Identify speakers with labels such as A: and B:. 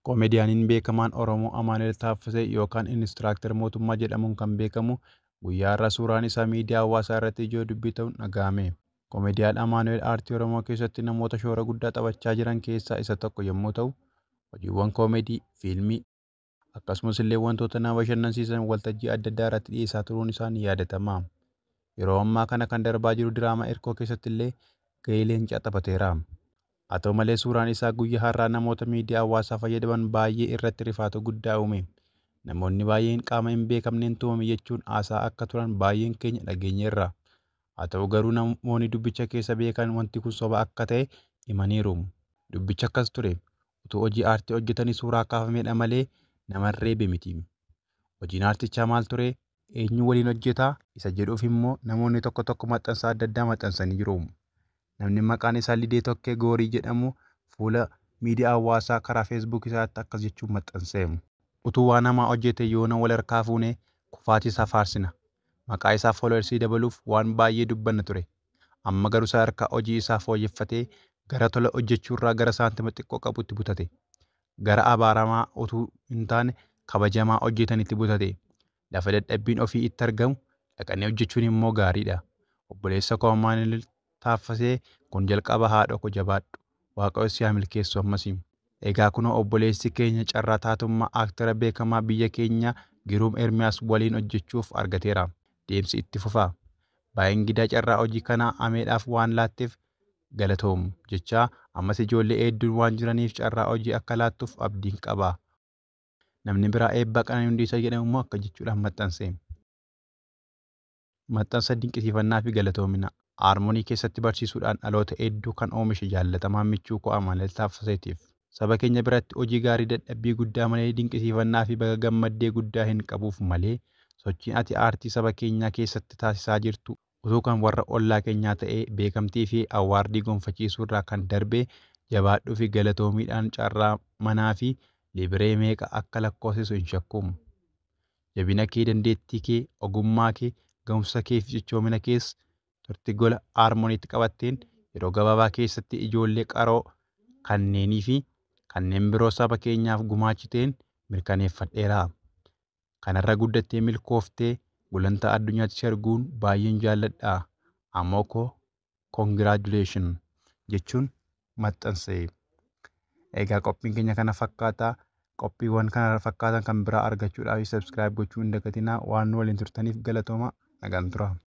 A: Komediyaaniin beekamaan Oromoo Amaanu'eel Taaffasee yookaan Inistiraaktar Mootummaa jedhamuun kan beekamu guyyaa har'aa suuraan isaa miidiyaa hawaasaa irratti ijoo dubbii ta'uun dhaga'ame. Komediyaan Amaanu'eel aartii Oromoo keessatti namoota shoora guddaa taphachaa jiran keessaa isa tokko yommuu ta'u, hojiiwwan koomedii, fiilmii, akkasumas illee wantoota nama bashannansiisan waltajjii adda addaa irratti dhiyeessaa turuun isaa ni yaadatama. Yeroo ammaa kana kan darbaa jiru diraamaa Irkoo keessatti illee gahee leencaa taphateera. Haa ta'u malee suuraan isaa guyyaa har'aa namoota miidiyaa hawaasaa fayyadaman baay'ee irratti rifaatu guddaa uume. Namoonni baay'een qaama hin beekamneen tumame jechuun haasaa akka turan baay'een keenya dhageenyeerra. Haa ta'u garuu namoonni dubbicha keessa beekan wanti kun soba akka ta'e himaniiru. Dubbichi akkas ture, utuu hojii aartii hojjetanii suuraa kaafamedha malee nama hin reebe miti. Hojiin aartichaa maal ture? Eenyu waliin hojjeta isa jedhuuf immoo namoonni tokko tokko maxxansa adda addaa maxxansanii jiru. Namni maqaan isaa Lidee Tokkee Goorii jedhamu fuula miidiyaa hawaasaa karaa Facebook isaatti akkas jechuun maxxanse. Utuu waan hamaa hojjetee yoona wal harkaa fuunee kufaatii isaa faarsina. Maqaa isaa followers dabaluuf waan baay'ee dubbanna ture. Amma garuu sadarkaa hojii isaa fooyyeffatee gara tola hojjechuurraa gara saantima xiqqoo qabuutti butate. gara abaaramaa utuu hin taane kabajamaa hojjetan itti butate. Lafa dadhabbiin ofii itti argamu dhaqanii hojjechuun immoo gaariidha. Obboleessa koo Amaanu'el Taaffasee kun jalqaba haadhoo koo jabaadhu. Waaqayyo si haa milkeessu ammas. Egaa kunoo obboleessi keenya carraa taatummaa aktera beekamaa biyya keenyaa Giruum Ermiyaas waliin hojjechuuf argateera. Deemsi itti fufa. Baa'engidaa carraa hojii kanaa Ameedhaaf waan laatteef galatoom jechaa ammas ijoollee eedduun waan jiraniif carraa hojii akka laattuf abdiin qaba. Namni biraa eebbaa Qananii Hundeessaa jedhamu immoo akka jechuudhaan maxxanseem. Maxxansa dinqisiifannaa fi galatoomina Aarmonii keessatti barsiisuudhaan dhaloota eedduu kan oomishe jaallatamaa michuu koo Amanuel Taaffaseetiif. Saba keenya biratti hojii gaarii dadhabbii guddaa malee dinqisiifannaa fi baga gammaddee guddaa hin qabuuf malee sochiin ati aartii saba keenyaa keessatti taasisaa jirtu Utuu kan warra ollaa keenyaa ta'ee beekamtii fi awwaardii gonfachiisuu irraa kan darbe jabaadhuu fi galatoomiidhaan carraa manaa fi libiree meeqa akka lakkoofsisu hin shakku. Jabina kee, dandeettii kee, ogummaa kee, gahumsa kee fi cichoomina kees turtii gola Haarmoniitti qabatteen yeroo gabaabaa keessatti ijoollee qaroo kanneenii fi kanneen biroo saba keenyaaf gumaachiteen mirkaneeffadheera. kanarra guddattee milkooftee gulantaa addunyaatti si arguun baay'een jaalladha Amoo koo congratulation jechuun maxxanse. Egaa qophiin keenya kana fakkaata. Qophiiwwan kana fakkaatan kan biraa argachuudhaaf subscribe gochuu hin dagatinaa. Waan nu waliin turtaniif galatooma. Nagaan turaa.